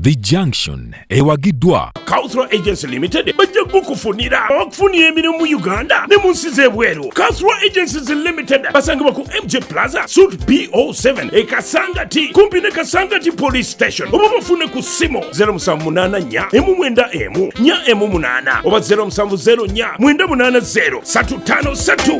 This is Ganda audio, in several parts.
The Junction ewagiddwa Cultural Agency Limited bajja kukufunira okufunira emirimu mu Uganda ne mu nsi z'ebweru. Cultural Agencies Limited basangibwa ku MJ Plaza Suite B07 e Kasangati kumpi ne Kasangati Police Station oba bafune ku ssimu 0784 emu mwenda emu nya emu munaana oba 070 nya mwenda munaana 0 satu tano satu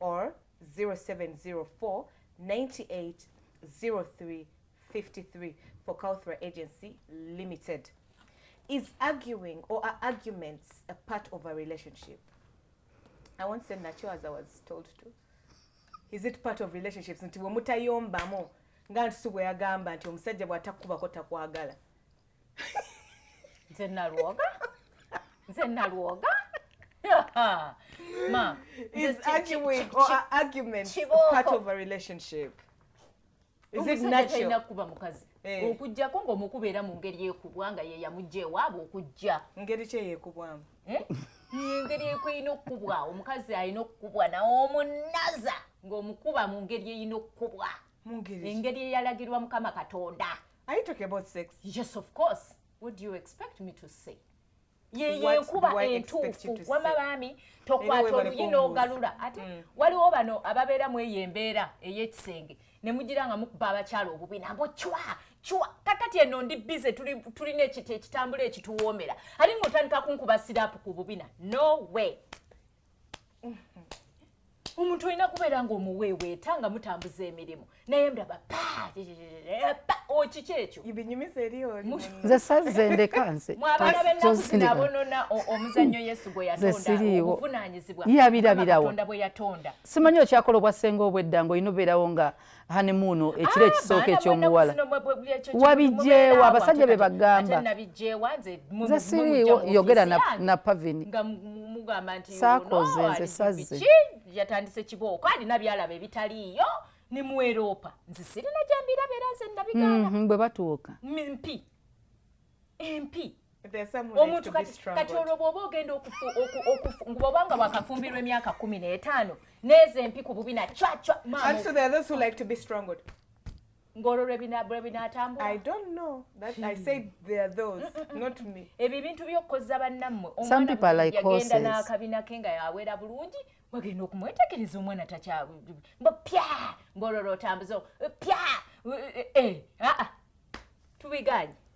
or 0704 98 03 53 for Kauthra Agency Limited. Is arguing or are arguments a part of a relationship? I won't say nacho as I was told to. Is it part of relationships? Nti wemutayombamu nga nti si bweyagamba nti omusajja bw'atakubako takwagala. nze nalwoga nze nalwoga ma is arguing or argument part of a relationship is it natural kuba mukazi eh. okujjako ng'omukuba era mu ngeri ekubwa nga ye yamujja ewaabwe okujja ngeri ki eyekubwamu eh? ngeri ekulina okukubwa omukazi alina okukubwa nawe omunaza ng'omukuba mu ngeri erina okukubwa engeri eyalagirwa mukama katonda Are you talking about sex? Yes, of course. What do you expect me to say? yeyenkuba entuufu wama baami tokwata oluyi n'ogalula ate mm. waliwo bano ababeera mu eyo embeera ey'ekisenge ne mugira nga mukuba abakyala obubi nabo cwa cwa kakati eno ndi bize tulina ekitambula ekituwoomera ate ng'otandika kunkuba siraapu ku bubina no way omuntu olina kubeera nga omuweeweeta nga mutambuza emirimu naye ndaba okiki ekyo nze sazze ndeka nze mwabana benakusinabonona omuzannyo yesu gwe yatondaobuvunanyizibwa yabirabirawo simanyi okyakola obwassenga obwedda nga olina obeerawo nga hanemuuno ah, ekiro ekisooka ekyomuwala wabijjeewo abasajja be bagamba nze siriiwo yogera na pavini saakoze nze sazze yatandise kibooko alina byalaba ebitaliiyo ni mu eropa nze sirina gyembirabera nze nabigana mhm, bwe batuuka mpi empi omuntu kati olwo bwoba ogenda okufuoba nga wakafumbirwa emyaka kumi n'etaano neeza empi ku bubi na cwacwa ng'olwo lwe binaatambula ebyo ebintu by'okukozza bannammwe omwanayagenda n'akabina ke nga yawera bulungi wagenda okumwetegereza omwana takyambo pya ng'olwo lwotambuza pya eh, eh, eh, ah, ah. tubiganye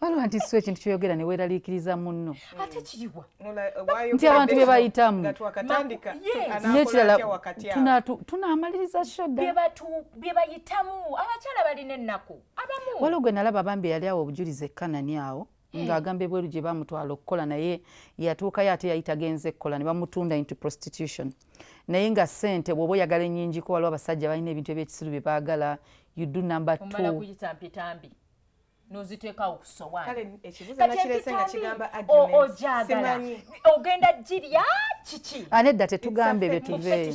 waliwo nti si ekintu kyoyogera ne weeraliikiriza munno eh, nti abantu be bayitamu n'ekirala tunaamaliriza shodabye bayitamu abakyala balina ennaku waliwo gwe nalaba bambi yali awo obujulizi ekkanani awo Eh. ng'agamba ebweru gye bamutwala okukola naye yatuukayo ate yali tagenze kukola ne bamutunda into prostitution naye nga sente bwoba oyagala enyingiko waliwo abasajja balina ebintu ebyekisiru bye baagala you do number twoyitampyetambi noziteekawo kusowaaniojagala ogenda girya kiki anedda tetugambe bye tuveeyo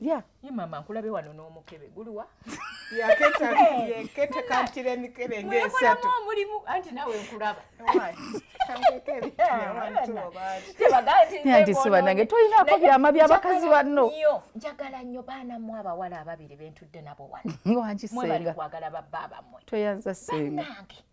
ya ye mama nkulabe wano n'omukebe guliwa yaketakankira emikebe ngaesatu omulimu anti nawe nkulaba tebagaatisibwa nange tolinako byama byabakazi banno njagala nnyo baana mu abawala ababiri bentudde nabo wano wankisenga kwagala babba bamwe toyanza senga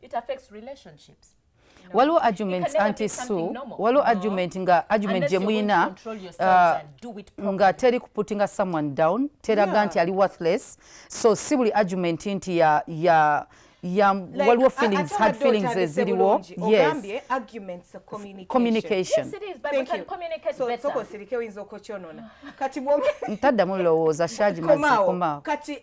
it affects relationships waliwo arguments anti su waliwo argument nga argument gye muyina uh, nga teri kuputinga someone down teraga nti ali worthless so si buli argument nti ya, ya ya like, waliwo feelings hard feelings eziriwo yes arguments communication, communication. Yes, it is, but Thank we can you. communicate so, better soko sirike winzo kochonona kati mwo ntadda mulowooza shaji mazikoma kati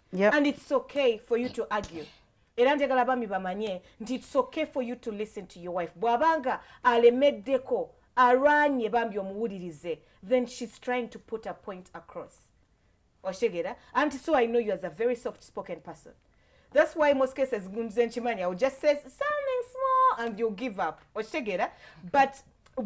yep. and it's okay for you to argue era njagala bami bamanye nti it's okay for you to listen to your wife bwabanga alemeddeko alwanye bambi omuwulirize then she's trying to put a point across oshegera anti so i know you as a very soft spoken person that's why most cases nze nkimanya u just say something small and you give up oshegera but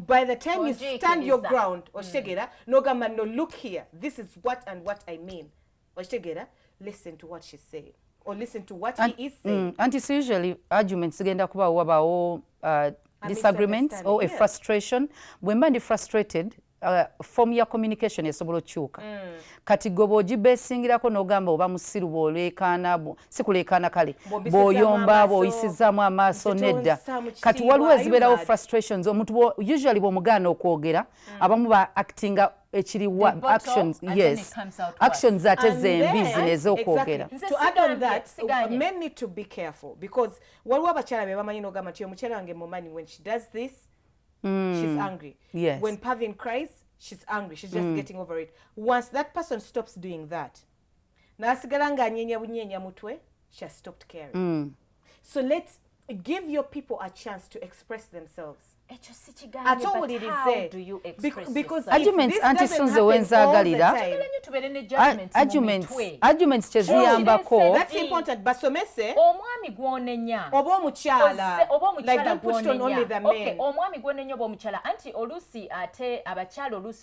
by the time you stand your ground oshegera mm. nogamba no look here this is what and what i mean okitegeera listen to what she say or listen to what he is saying mm, anti it's usually arguments zigenda kuba wabawo uh, disagreements or a frustration bwe mba ndi frustrated uh, form ya communication esobola okukyuka mm. kati gwe bwogibesingirako n'ogamba oba musiru bwoleekaana si kuleekaana kale bw'oyomba bw'oyisizaamu amaaso nedda kati waliwo ezibeerawo frustrations omuntu usually bw'omugaana okwogera mm. abamu ba actinga ekiriwa actions yes actions ate zembi zino ezokwogera men need to be careful because waliwo abakyala be bamanyi nogamba nti omukyala wange mumanyi when she does this mm. she's angry yes. when pavin cries she's angry she's just mm. getting over it once that person stops doing that nasigala nga anyenya bunyenya mutwe she has stopped caring mm. so let's give your people a chance to express themselves ate owulirize antisunze wenzagalira arguments kyeziyambako basomese omwami gwonenya oba omukyala omwami gwonenya oba omukyala anti oluusi ate abakyala oluusi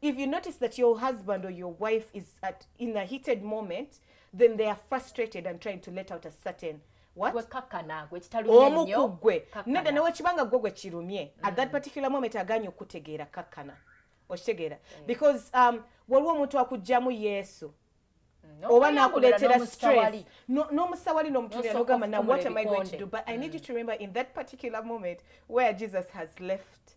if you notice that your husband or your wife is at in a heated moment then they are frustrated and trying to let out a certain omu ku ggwe nedda newekibanga ggwe gwe kirumye mm. at that mm. particular moment aganye okukutegeera kakkana okitegeera mm. because um, waliwo omuntu akugjamu yesu No, oba nakuleetera stress n'omusawali n'omutulia nogamba now what am i going to do but i need you to remember in that particular moment where jesus has left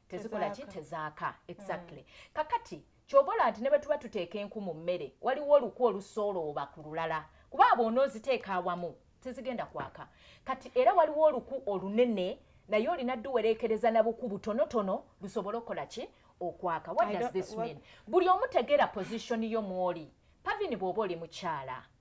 tezikola ki tezaaka exactly mm. kakati kyobola nti ne bwe tuba tuteeka enku mu mmere waliwo olukwa olusoolooba ku lulala kuba abo onooziteeka awamu tezigenda kwaka kati era waliwo oluku olunene naye olina duwerekereza na buku butonotono lusobole okukola ki okwaka what does this mean buli omutegeera position yo mwoli pavini bw'oba oli mukyala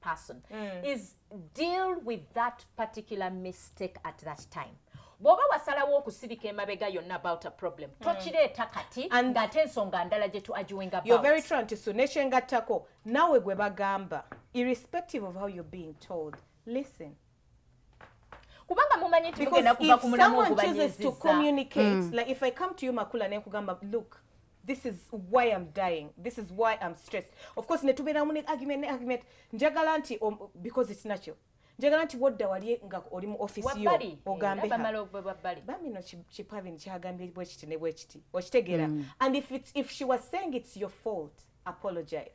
person mm. is deal with that particular mistake at that time bwoba wasalawo okusirika emabega yonna about a problem mm. tokireeta kati ng'ate ensonga ndala gye tuagiwingaverytrantisu nekyengattako nawe gwe bagamba irrespective of how you're being told listen kubanga mumanyi nti mugenda kuva ku mulamu okubanyiziza mm. like if i come to you makula nenkugamba look this is why am dying this is why am stressed of course netubeeramu ne argument ne argument njagala nti um, because it's natural njagala nti wodda wali nga oli mu office yo ogambe bambi no kipavin kyagambye bwekiti ne bwekiti okitegeera mm. and if, it's, if she was saying it's your fault apologize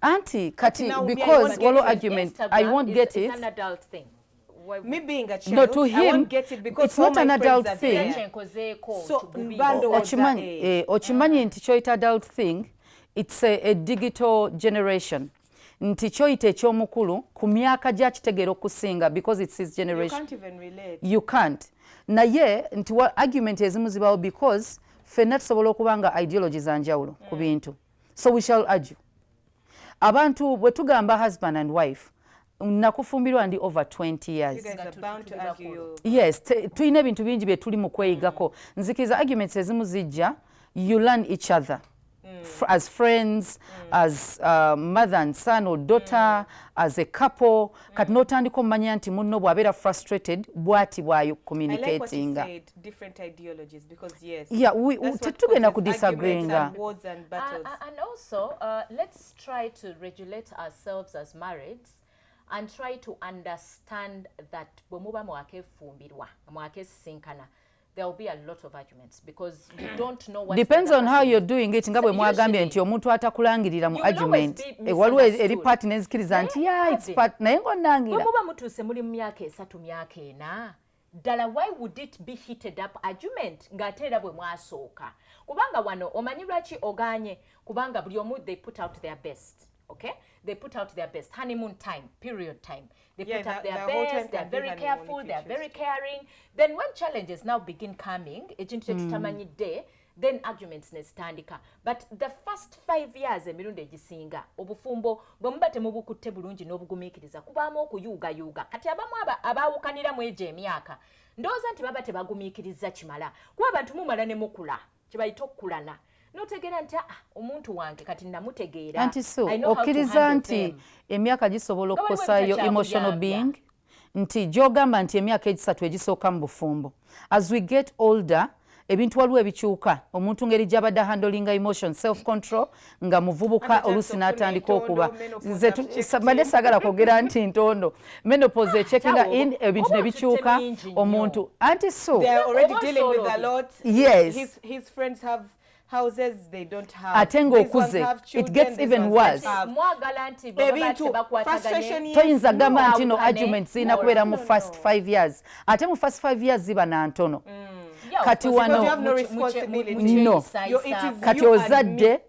anti kati because waliwo argument i won't get it me being a child, no, to him, I won't get it because it's not an adult thing. So, okimanyi eh, okimanyi ah. nti kyoyita adult thing it's a, a digital generation nti kyoyita ekyomukulu ku myaka gyakitegeera okusinga because it's his generation you can't, even relate. You can't. naye nti argument ezimu zibawo because fenna tusobola okuba nga ideology za njawulo ku mm. bintu mm. so we shall argue abantu bwe tugamba husband and wife nakufumbirwa ndi over 20 years yes tulina ebintu bingi bye tuli mu kweyigako mm. nzikiriza arguments ezimu zijja you learn each other Mm. as friends mm. as uh, mother and son or daughter mm. as a couple kati notandika omumanya nti munno bwabeera frustrated bwati bwayo communicatinga tetugenda ku disagreeinga and try to understand that bwe muba mwakefumbirwa mwakesisinkana there will be a lot of arguments because you hmm. don't know what depends on how you're doing it nga bwe mwagambye nti omuntu atakulangirira mu argument eh, waliwo e- eri part nezikiriza nti ya it's part naye nga onangira muba mutuuse muli mu myaka esatu myaka ena ddala why would it be heated up argument ng'ate era bwe mwasooka kubanga wano omanyi lwaki oganye kubanga buli omu they put out their best okay they put out their best honeymoon time period time They yeah, put up their best, they're very careful, they're very caring. Then when challenges now begin coming, ekintu kyetutamanyidde mm. then arguments nezitandika but the first five years emirundi egisinga obufumbo bwe muba temubukutte bulungi n'obugumiikiriza kubaamu okuyuugayuuga kati abamu abaawukanira mu egyo emyaka ndowooza nti baba tebagumiikiriza kimala kuba abantu mumala ne mukula kyebayita okukulana notegeera nti aa ah, omuntu wange kati namutegeera anti so okkiriza nti emyaka gisobola okukosayo emotional being nti gyogamba nti emyaka egisatu egisooka mu bufumbo as we get older ebintu waliwo ebikyuka omuntu ngeri gyabadde handlinga emotion self control nga muvubuka oluusi n'atandika okuba nze mbadde saagala kwogera nti ntondo menopause echekinga in ebintu ne bikyuka omuntu anti so yes ate ng'okuze it gets even worse toyinza gamba nti no argument zirina kubeera mu first five years ate mu first five years ziba na ntono mm. kati wano no kati ozadde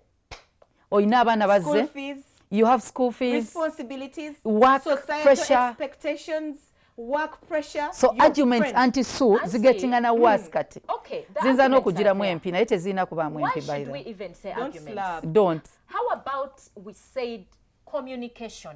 olina abaana bazze you have school fees responsibilities work societal pressure expectations work pressure so your arguments friend. anti su zigetingana mm. worse kati okay, zinza n'okugiramu empi naye tezirina kubaamu empi by the way don't, don't. how about we said communication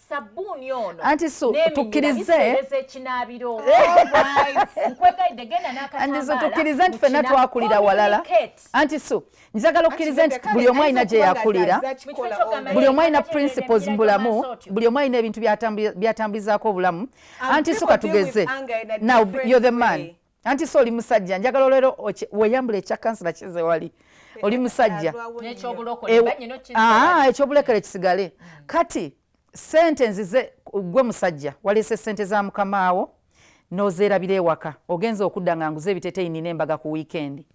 sabbuuni ono anti so tukkirize ekinaabiro nkwegaidde genda n'akatambaala tukkirize nti fenna twakulira walala anti so njagala okkirize nti buli omu alina gye yakulira buli omu alina principles mu bulamu buli omu alina ebintu byatambulizaako obulamu anti so katugeze now you're the man anti so oli musajja njagala olero weyambula ekya kansula kize wali oli musajja ah, ekyobulekere kisigale hmm. kati sente nzize gwe musajja waleese sente za mukamaawo nozeerabira ewaka ogenza okudda nga nguze ebiteteyi nina embaga ku wiikendi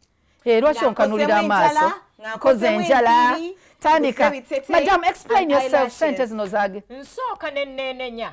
eh, lwaki onkanulira amaaso nkoze enjala tandika madam explain yourself sente zino zage nsooka nenenenya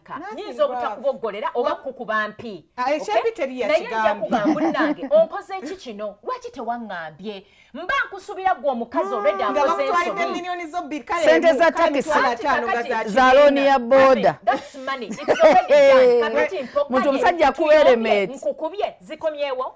nyinza obutakuboggolera oba kukuba mpi ah, eh, naye nja kugamba nange onkoze eki kino lwaki tewaŋŋambye mba nkusubira gwe omukazi olwedde hmm, akoze ensobisente za takisi za looni ya booda muntu omusajja akuwa elementi nkukubye zikomyewo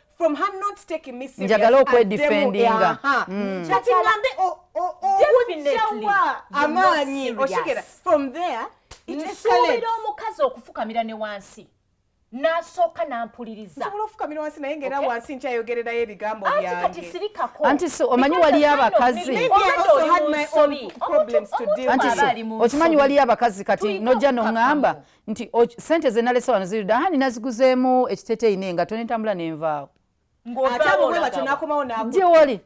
from her not taking me serious njagala okwedefendinga mm. kati ngambe obujjawa amaanyi okigera from there nsuubira omukazi okufukamira ne wansi nasooka nampulirizasobola ofukamira wansi naye ngaera wansi nkyayogererayo ebigambo byange anti si omanyi waliyo abakazi anti si okimanyi waliyo abakazi kati nojja noŋŋamba nti sente zenalese wano ziri dda hani naziguzeemu ekiteteeyi ne nga tonentambula nenvaawo ate abo bwe batyo nakomawo nagwo gye wali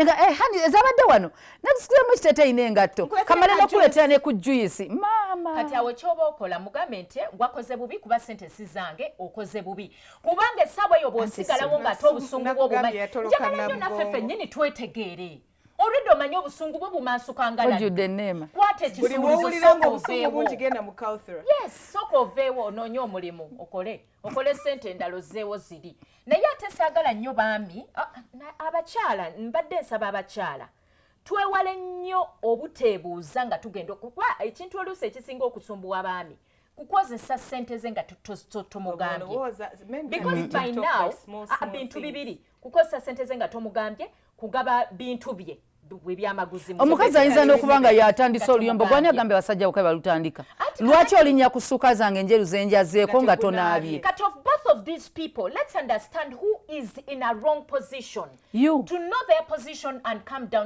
nga eh, hani ezabadde wano nakusikiremu ekiteteyi n'engatto kamale nokuleetera ne ku juyisi maama kati awo kyoba okola mugambe nti wakoze bubi kuba sente si zange okoze bubi kubanga essaawa eyo bwosigalawo ng'ate obusungu bwo bumanyi njagala nyo naffe fennyini twetegeere olwedde omanye obusungu bwe bumansukangalajuddeneemakwata ekisuubuusoka oveewo onoonye omulimu okole okole sente endala ozzeewo ziri naye ate saagala nnyo baami abakyala mbadde nsaba abakyala twewale nnyo obuteebuuza nga tugenda okuba ekintu oluusi ekisinga okusumbuwa baami kukozesa sente ze nga tomugambyebintu bibiri kukozesa sente ze nga tomugambye kugaba bintu bye omukazi ayinza n'okuba nga yatandise oluyombo gwani agambe basajja bukabe balutandika lwaki olinya ku ssuka zange enjeru zenjazeeko nga tonaabye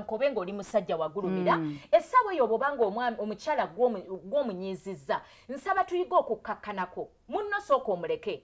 kobe ngaoli musajja wagulumira hmm. essaawa eyo bwoba nga omukyala gw'omunyiizizza nsaba tuyiga okukkakkanako munno sooka omuleke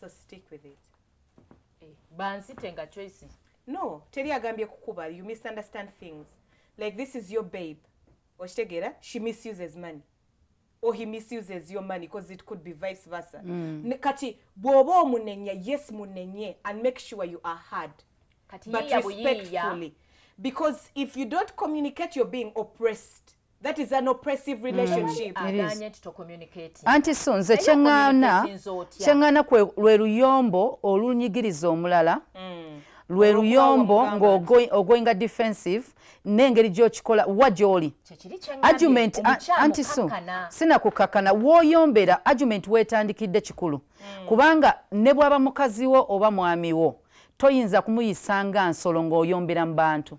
so stick with it eh, bansite nga choice no teri agambye kukuba you misunderstand things like this is your babe okitegera she misuses money or he misuses your money because it could be vice versa mm. kati bwoba omunenya yes munenye and make sure you are hard kati but respectfully because if you don't communicate you're being oppressed That is an oppressive mm. relationship. Mm, Anti so nze kyengana kyengana kwe lwe luyombo olunyigiriza omulala mm. lwe luyombo ng'ogoinga defensive n'engeri gy'okikola wa gy'oli argument anti so sinakukakana w'oyombera argument weetandikidde kikulu mm. kubanga ne bwaba mukazi wo oba mwami wo toyinza kumuyisa nga nsolo ng'oyombera mu bantu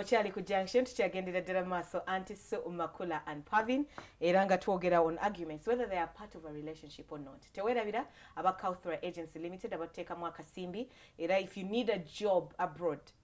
okyali ku junction tukyagendera ddala mu maaso anti so makula and pavin era nga twogera on arguments whether they are part of a relationship or not tewerabira aba couthra agency limited abateekamu akasimbi era if you need a job abroad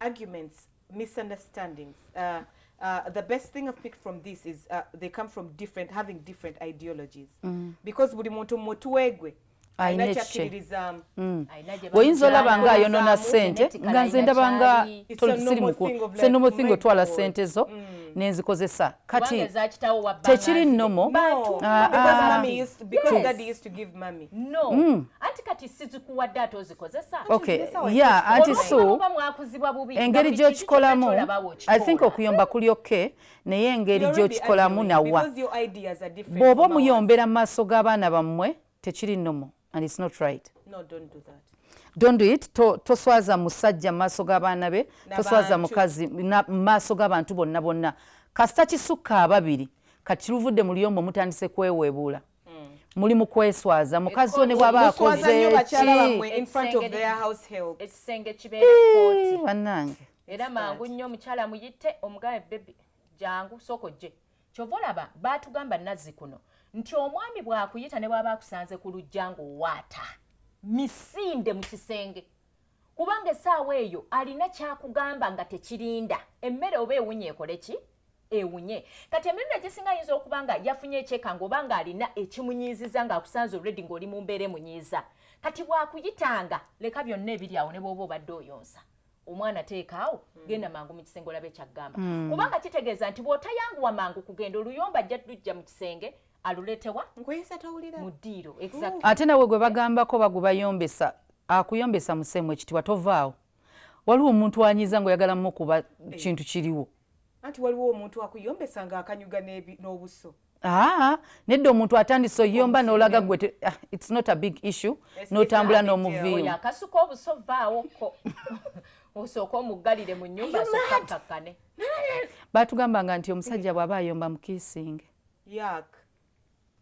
arguments misunderstandings uh, uh, the best thing I've picked from this is uh, they come from different having different ideologies mm. because buli muntu mutwegwe ayinakyakiririzaamu mm. oyinza olaba nga ayonona sente nga nze ndaba nga tolisirimukusennomo thing otwala sente zo mm. nenzikozesa kati tekiri nnomo no mm. anti kati sizikuwadde ate ozikozesa okay. yeah, anti su engeri gyokikolamu i think okuyomba kuli okke naye engeri gyokikolamu nawa bw'oba omuyombera mu maaso g'abaana bammwe tekiri nomo and it's not right no, don't do that. Don't do it. To, toswaza musajja maaso g'abaana be toswaza mukazi maaso g'abantu bonna bonna kasita kisukka ababiri kati luvudde muli omu mutandise kweweebuula muli mukweswaza mukazi one bwaba akozebanange era mangu nnyo omukyala muyite omugabe bebi jangu soko gye kyova olaba batugamba nazzi kuno nti omwami bwakuyita ne bwaba akusanze ku lujja ngaowaata misinde mu kisenge kubanga esaawa eyo alina kyakugamba nga tekirinda emmere oba ewunye ekole ki ewunye kati emirundi egisinga ayinza okuba nga yafunye ekyekanga oba nga alina ekimunyiiziza nga akusanze olredi ngaoli mu mbeera emunyiiza kati bwakuyitanga leka byonna ebiri awo ne bwoba obadde oyonsa omwana teekaawo hmm. genda mangu mu kisenge olabe kyaggamba hmm. kubanga kitegeeza nti bw'otayanguwa mangu kugenda oluyomba ajja ddujja mu kisenge aluletewa nkuyisa tawulira mu ddiiro exactly. ate nawe gwe bagambako bagubayombesa akuyombesa musemu ekitibwa tovaawo waliwo omuntu anyiza nga oyagala mukuba eh. kintu kiriwo anti waliwo omuntu akuyombesa nga akanyuga n'obuso aa nedda omuntu atandise oyomba nolaga gwe ah, its not a big issue notambula n'omuviimu akasuka obuso vaawoko osooka omuggalire mu nyumba soka kakkane batugambanga nti omusajja bw'aba ayomba mukiisinge yak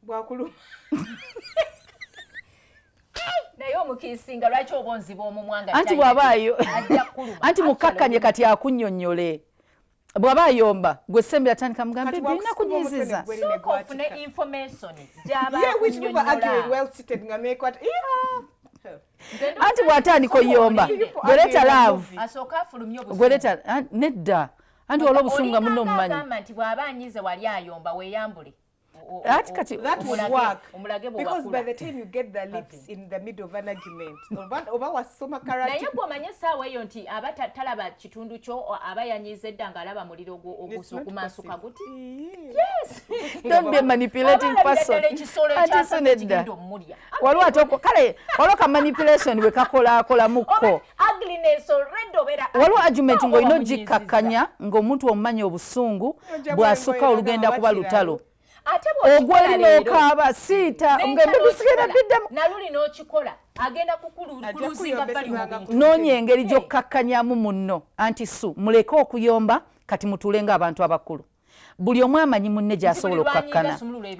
bwakuluma naye omukiisinga lwaki oba onziba omumwa nga anti bwabaayo anti mukkakkanye kati akunyonyole bwaba ayomba gwe sembe atandika mugambe birina kunyiziza anti bwatandika oyomba gweleta love nedda anti waliwo obusungu nga munno omumanyi agamba nti bw'aba anyize wali ayomba weeyambule That, kati, that would work because by the time you get the lips in the middle of an argument oba wasoma karate naye gwe omanye essaawa eyo nti aba talaba kitundu kyo aba yanyiiza edda ng'alaba muliro ogusukumansuka guti yes don't be a manipulating person ati sinedda waliwo atoko kale waliwo ka manipulation bwe kakolakolamu kko waliwo argument ng'olina ogikkakkanya ng'omuntu omumanyi obusungu bw'asukka olugenda kuba lutalo ogwali nokaaba siita ngebisigera biddemu noonya engeri gy'okkakkanyamu munno anti su muleke okuyomba kati mutuule ng'abantu abakulu buli omu amanyi munne gyasobola okukakkana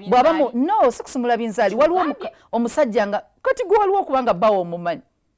bwaba no sikusumula binzaali waliwo omusajja nga kati gwe waliwo okubanga bawo omumanyi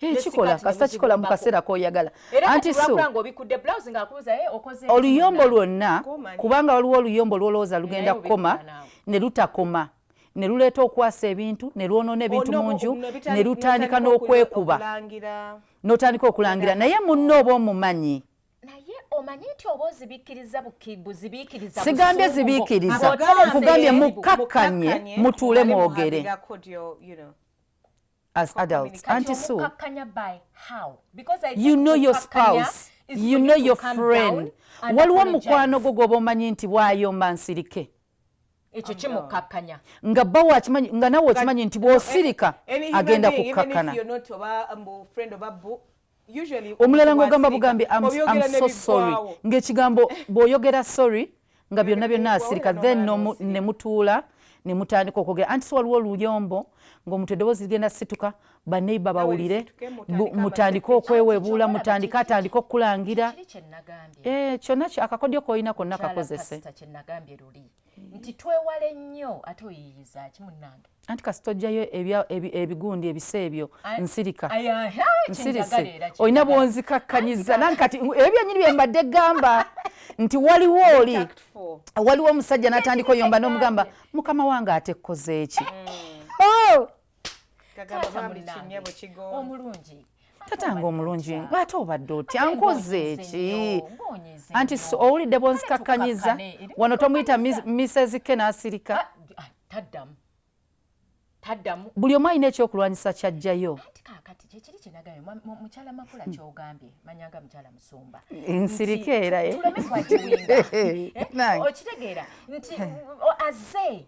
ekikola eh, kasita kikola mu kaseera koyagala anti so oluyombo lwonna kubanga waliwo oluyombo lwolowooza lugenda kukoma ne lutakoma ne luleeta okwasa ebintu ne lwonoona ebintu mu nju ne lutandika n'okwekuba n'otandika okulangira naye munno oba omumanyi naye omanyi nti oba ozibikkiriza buzibiikiriza sigambye zibiikiriza nkugambye mukkakkanye mutuule mwogere as adults anti so by how because I you know your spouse you know your friend waliwo mukwano gwo gwoba omanyi nti bwayomba nsirike ekyo kimukakkanya nga bawo akimanyi nga nawe okimanyi nti bwosirika agenda kukkakkana omulala ngaogamba bugambi so sorry ngaekigambo bwoyogera sorry nga byonna byonna asirika then nemutuula nemutandika okwogera anti si waliwo oluyombo ngaomuntu eddoboozi ligenda situka baneiba bawulire mutandike okwewebuula mutandike atandike okukulangira eh, kyonna akakodyo kolina konna kakozese nti twewale nnyo ate oyiyiza ki munnange anti kasita ojjayo ebigundi ebisa ebyo nsirika nsirise olina bwonzikakkanyiza nange kati ebyo byenyini bye mbadde gamba nti waliwo oli waliwo omusajja natandika oyomba nomugamba mukama wange ate kkozeeki mm. oh! omulungi tatange omulungi ate obadde otya ankoze eki anti owulidde bonzikakkanyiza wano tomuyita misezike n'asirika taddamu taddamu buli omu alina ekyokulwanyisa kyajjayo anti kakati kyekiri kyenagayo mukyala makula kyogambye manyanga mukyala musumba nsirika era eh? eh, okitegeera nti aze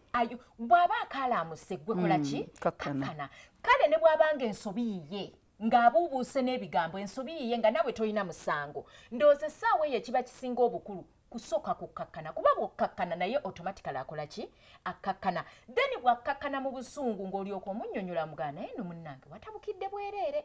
bw'aba akalaamuse ggwe kola ki mm, kakkana kale ne bw'abanga ensobi yiye ng'abuubuuse n'ebigambo ensobi yiye nga nawe tolina musango ndowooza essaawa eyo ekiba kisinga obukulu kusooka kukkakkana kuba bwokkakkana naye automatically akola ki akkakkana then bwakkakkana mu busungu ng'olyoka omunnyonnyola mugaa naye no munnange watabukidde bwereere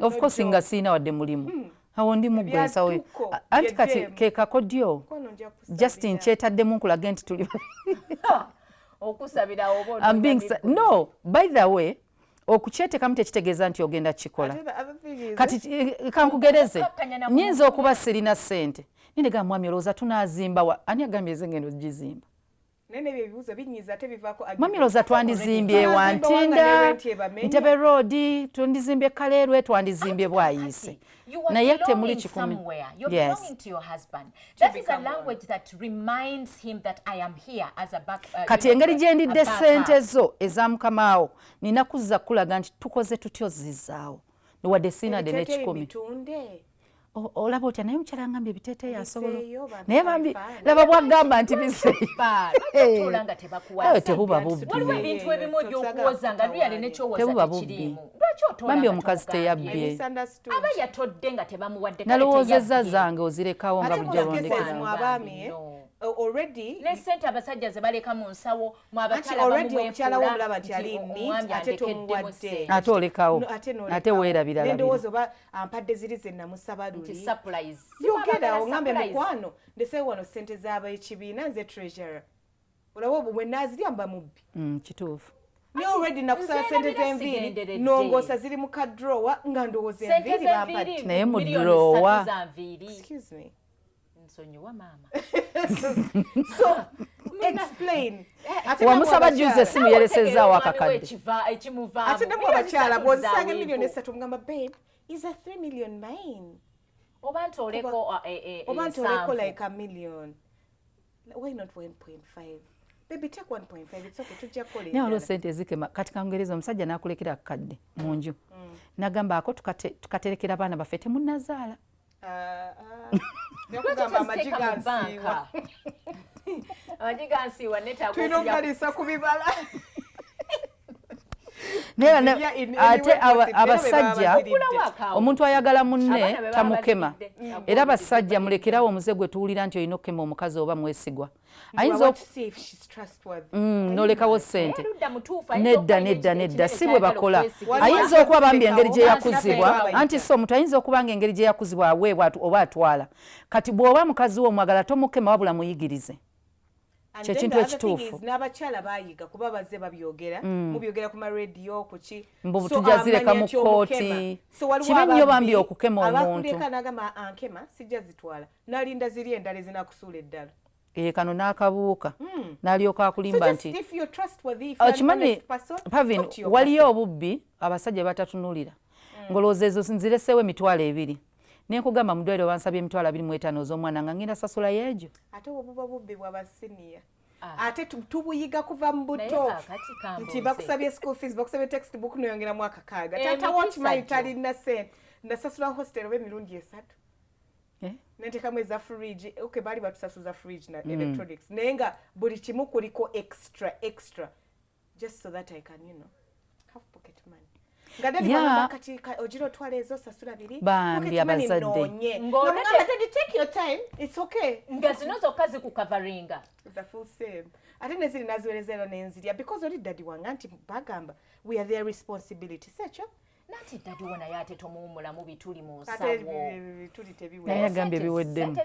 of course nga siina wadde mulimu hmm. awo ndi muggwe ensawo anti kati kekako dyo just nkyetaddemu nkulage nti tuli no by the way okukyetekamu tekitegeeza nti ogenda kukikola kati eh, kankugereze nyinza okuba sirina sente nindegaa mwami olowooza tunazimbawa ani agambye ezengendo gizimba Mami Roza twandizimbye wa Ntinda, Ntebe Road, twandizimbye Kaleerwe, twandizimbye Bwayiise. Naye ate muli kikumi. Yes. Uh, Kati engeri gye ndidde ssente zo eza mukamaawo nina kuzza kulaga nti tukoze tutya ozzizaawo. Wadde sina de n'ekikumi. olaba otya naye omukyala ngambye ebiteeteeyi asobola naye bambi laba bwagamba nti bisetebuba bubbibambi omukazi teyabbye nalowoozeza zange ozirekawo nga bujja olondekera already ne sente abasajja ze baleka mu nsawo mu abakyala already omukyala wo mulaba nti ali neat ate tomuwadde ate olekawo ate weerabira labira ampadde ziri ze namusaba luliyogedawo ngambe mukwano ndesewo wano sente zaba ekibiina nze treasurer olaba obwo bwe nazirya mba mubbi mm, kituufu naye already nakusala sente zenviiri nongosa ziri mu kadrowa nga ndowooza enviiri bampati naye mu drowa nsonyiwa maama so explain eh, wamusaba juzi esimu yeresezaawo akakadde ate nemu abakyala bwozisanga emiliyoni esatu mugamba babe is a 3 million mine oba nti oleko uh, eh, eh, oba nti oleko like a million why not 1.5 naye olwo sente ezikema kati kangereza omusajja nakulekera akakadde mu nju mm. nagamba ako tukaterekera baana baffe temunazaala nakugamba amagi gansiiwa amagi gansiiwa netulina okugaliisa ku bibala ate abasajja omuntu ayagala munne tamukema era basajja mulekerawo omuze gwe tuwulira nti olina okukema omukazi oba mwesigwa Mm, nolekawo sente nedda nedda nedda si bwe bakola ayinza okuba bambi engeri gye yakuzibwa anti si omuntu ayinza okuba nga engeri gye yakuzibwa aweebwa oba atwala kati bw'oba mukazi wo omwagala tomukema wabula muyigirize kyekintu ekituufu n'abakyala bayiga kuba bazze babyogera mm. mubyogera ku marediyo kuki mbu tujazireka mu kkooti kibi nnyo bambi okukema omuntu abakuleka nagamba ankema sijja zitwala nalinda ziri endala ezinakusuula eddala eh, kano n'akabuuka hmm. n'alyoka akulimba nti okimanyi oh, pavin waliyo obubbi abasajja batatunulira hmm. ngolowooza ezo nzireseewo emitwalo ebiri nenkugamba mudwaliro bansabye emitwalo abiri mu etaano oz'omwana nga ngenda sasula yeegyo ate obuba bubbi bwabasiniya Ah. ate tubuyiga kuva mu buto nti bakusabye school fees bakusabye text book noyongera mwaka kaaga eh, tata wokimanyi talina sente nasasula hostel oba emirundi esatu eh? nentekamu eza fridge okay bali batusasuza fridge na mm. electronics naye nga buli kimu kuliko extra extra just so that i can you know have pocket money bambi abazadde nga zino zokka zikukavaringa ate neziri naziwereza era nenzirya because oli dadi wange nti bagamba we are their responsibility sekyo nati dadi wona yate tomuwumula mu bituli mu nsawonaye agamba ebiweddemu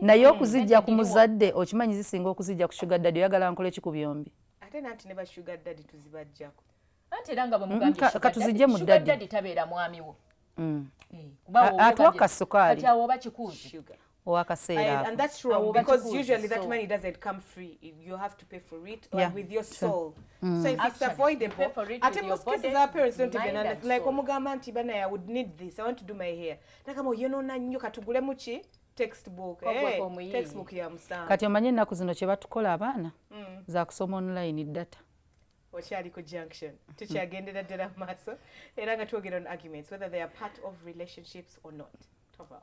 naye okuzijja ku muzadde okimanyi zisinga okuzijja ku shuga dadi oyagala nkola eki ku byombi ate nanti ne bashuga dadi tuzibajjako anti era nga bwemugambkatuzijje mu dadi tabeera mwamiwo mm. eh, atuwa kasukaali kati awo oba kikuuzi owakaseera and that's wrong because usually that money doesn't come free you have to pay for it yeah. with your soul mm. so if Actually, it's avoidable ate most cases our parents don't even understand like omugamba nti bana i would need this i want to do my hair nakama oyonona nnyo katugulemu ki textbook eh, textbook ya musanvu kati omanye ennaku zino kye batukola abaana mm. za kusoma online data okyali ku junction tukyagendera ddala mu maaso era nga twogera on arguments whether they are part of relationships or not tova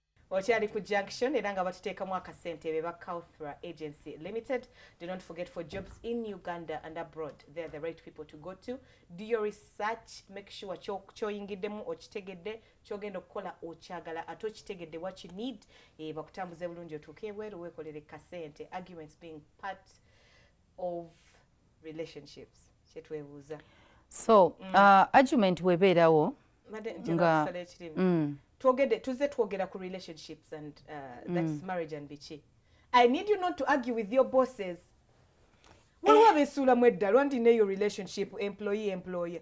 okyali ku junction era nga batuteekamu akasente be ba Kauthra Agency Limited do not forget for jobs in Uganda and abroad they are the right people to go to do your research make sure kyoyingiddemu okitegedde kyogenda okukola okyagala ate okitegedde what you need e, bakutambuze bulungi otuuke ebweru weekolere kasente arguments being part of relationships kyetwebuuza so mm. uh, argument webeerawo nga mm. twogede tuze twogera ku relationships and uh, that's mm. marriage and biki i need you not to argue with your bosses waliwo abesuulamu edda lwandi neyo relationship employee employer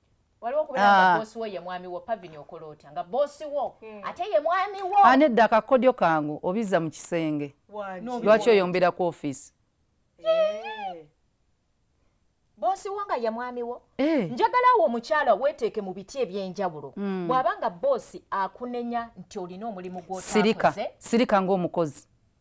waliwo okubeera nga ah. boosi wo ye mwami wo pavini okola otya nga boosi wo hmm. ate ye mwami wo anedda ah, akakodyo kangu obiza mu kisenge lwaki oyombera ku ofiisi eh. boosi wo nga ye mwami wo eh. njagala wo omukyala weeteeke mu biti eby'enjawulo hmm. bw'aba nga boosi akunenya nti olina omulimu gw'otakoze sirika ng'omukozi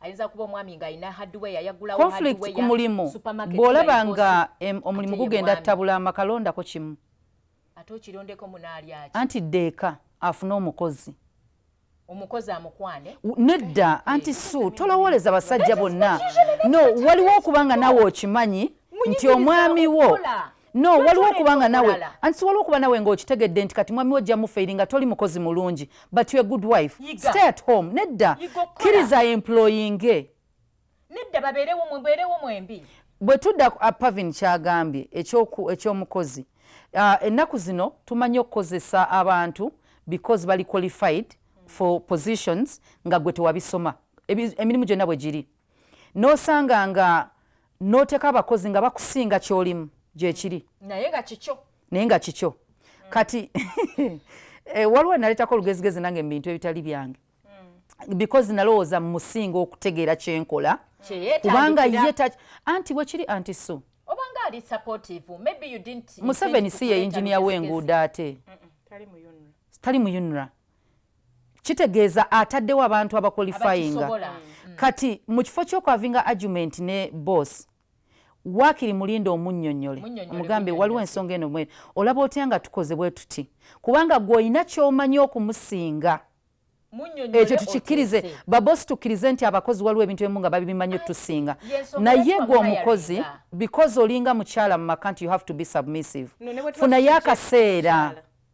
ayinza kuba omwami nga alina hardware yayagulawo conflict ku mulimu bw'olaba nga omulimu gugenda tabula amakalondako kimu ate okirondeko munaalyaki anti ddeeka afune omukozi omukozi amukwane nedda anti su tolowooleza basajja bonna no waliwo okuba nga nawe okimanyi nti omwami wo no waliwo okuba nga nawe anti siwaliwo okuba nawe ngaokitegedde nti kati mwami wo ojja mufeiri nga toli mukozi mulungi but your good wife Yiga. stay at home nedda kkiriza employinge nedda babeerewo mubeerewo mwembi bwe tudda uh, pavin kyagambye ekyomukozi uh, ennaku zino tumanyi okukozesa abantu because bali qualified for positions nga gwe tewabisoma emirimu gyonna bwe giri nosanga nga noteka abakozi nga bakusinga kyolimu gyekiri naye nga kikyo naye nga kikyo kati eh, waliwo naletako olugezigezi nange mubintu ebitali byange mm. because nalowooza mumusinga okutegeera kyenkola kubanga ye anti bwekiri anti so museveni si ye yinginiya wenguudo ate tali mu unra kitegeeza ataddewo abantu abakolifayinga mm. kati mu kifo kyokwavinga argument ne boss wakiri mulinda omunyonyole omugambe waliwo ensonga eno mwene olaba otya nga tukoze bwe tuti kubanga gwe olina kyomanyi okumusinga ekyo tukikkirize babosi tukkirize nti abakozi waliwo ebintu ebimu nga babimanyi otusinga naye gwe omukozi because olinga mukyala mu maka nti you have to be submissive funayo akaseera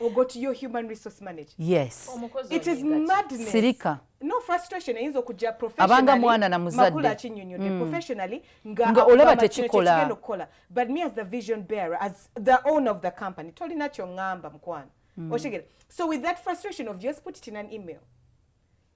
or go to your human resource manager yes it is madness sirika no frustration eyinza okujja abanga mwana na muzadde akinyonyodde mm. professionally nga olaba tekikola okukola but me as the vision bearer as the owner of the company tolina kyongamba mukwano mm. otegera so with that frustration of just put it in an email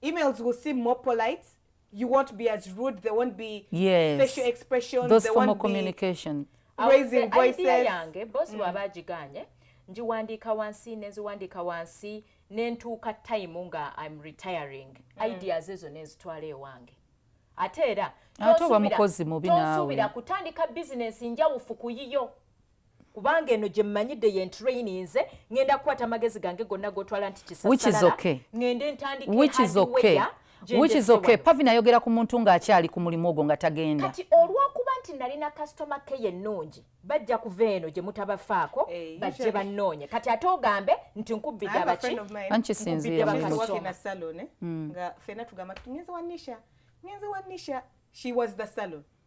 Emails will seem more polite. You won't be as rude. There won't be yes. facial expressions. Those there formal communication. Be raising voices. Idea yange, boss mm. wabajiganye, njiwandika wansi, nenziwandika wansi, nentuka time nga I'm retiring. Mm. Ideas ezo nenzitwale ewange. Ate era, tosubira kutandika bizinesi njawufu kuyiyo. kubanga eno gye mmanyidde ye ntrayininze ŋenda kukwata amagezi gange gonna gotwala nti kisasalala ŋende ntandikeweya which is okay pavi nayogera ku muntu ng'akyali ku mulimu ogwo nga tagenda kati olw'okuba nti nalina kasitoma ke yennungi bajja kuva eno gye mutabafaako hey, eh, bajje bannoonye kati ate ogambe nti nkubbidde abaki ankisinziira hmm. nga fena tugamba tugenze wa nisha ngenze wa nisha she was the salon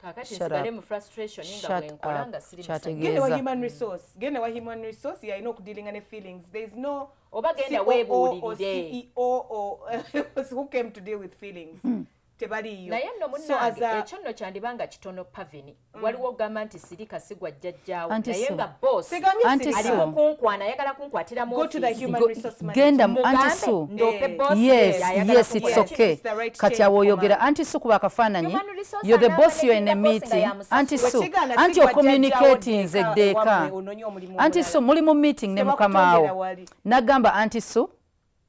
kakati nsigale mu frustration nga bwenkola nga siri genda wa human resource genda wa human resource yalina okudealinga ne feelings there is no oba genda weebuulirire who came to deal with feelings hmm. tebaliyo naye nno munnange ekyo nno kyandiba nga kitono pavini Mm. waliwo ogamba nti sirika sigwa jjajjaawo naye nga bosaliwo kunkwana ayagala kunkwatira mugendamuantisoke kati awo oyogera anti su kuba akafaananyi yo the boss yo in a meeting anti su anti ocommunicatinze eddeeka anti su muli mu meeting ne mukamaawo nagamba anti su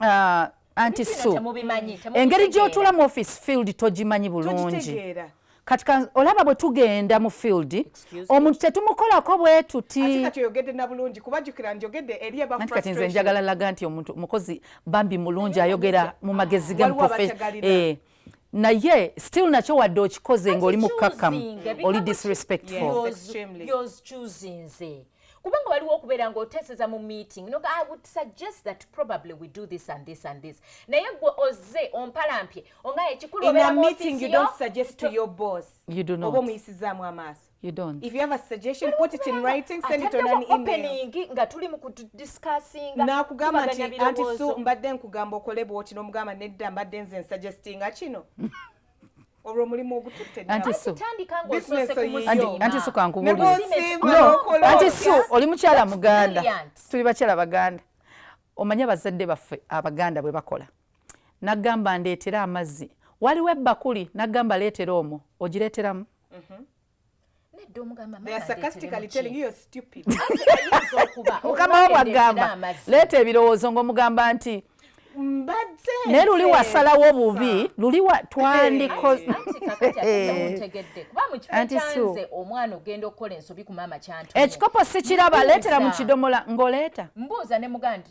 uh, anti su engeri gyotula mu office field togimanyi bulungi kati olaba bwe tugenda mu field omuntu tetumukolako bwe tutiati kati nze njagala laga nti omuntu mukozi bambi mulungi ayogera mu magezi gamuprofe naye still nakyo wadde okikoze ng'oli mukkakkamu oli disrespectful kubanga waliwo okubeera ng'oteeseza mu meeting no i would suggest that probably we do this and this and this naye gwe ozze ompalampye onga ekikulu obeera mu office yo in a meeting you don't suggest to your boss you do not oba omuyisizaamu amaaso You don't. If you have a suggestion, put it in writing, send it on an email. nga tuli mu kudiscussinga. Nakugamba nti anti su mbadde nkugamba okole bwoti n'omugamba nedda mbadde nze nsuggestinga kino. olwo mulimu ogututte anti su kankubulianti su oli mukyala muganda tuli bakyala baganda omanyi abazadde baffe abaganda bwe bakola nagamba ndeetera amazzi waliwo ebbakuli nagamba leetera omwo ogireeteramu Mhm. nedda omugamba mukama wabwagamba leeta ebirowoozo ngaomugamba nti naye luli wasalawo obubi luli twandikoanti omwana ogenda okukola ensobi ku maama kyantu ekikopo sikiraba leetera mu kidomola ng'oleeta mbuuza ne mugandi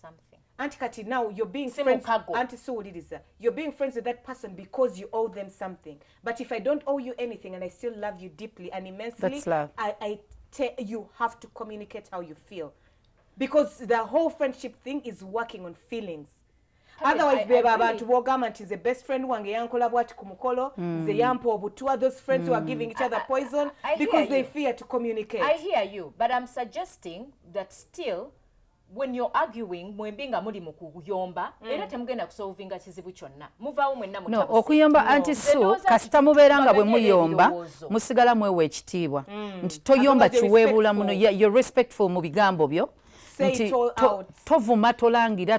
something anti kati now you're being friends anti siwuliriza you're being friends with that person because you owe them something but if i don't owe you anything and i still love you deeply and immensely That's love. I, I te- you have to communicate how you feel because the whole friendship thing is working on feelings otherwise bebo abantu bogamba nti the best friend wange yankola bwati ku mukolo mm. ze yampa obutwa those friends mm. who are hmm. giving each other poison I, I, I because they you. fear to communicate i hear you but i'm suggesting that still when you're arguing mwembi nga muli mu kuyomba mm. era temugenda kusolvinga kizibu kyonna muvaawo mwenna no, okuyomba no. anti su kasita mubeera nga bwe muyomba musigala mwewa ekitiibwa mm. nti toyomba kiweebuula muno you're respectful mu bigambo byo nti tovuma tolangira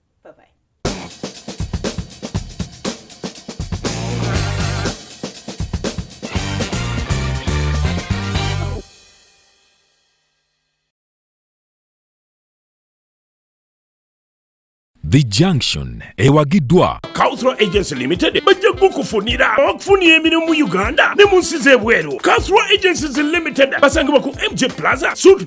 Bye bye. The Junction ewagiddwa Cultural Agency Limited bajja kukufunira okufunira emirimu mu Uganda ne mu nsi z'ebweru. Cultural Agencies Limited basangibwa ku MJ Plaza Suit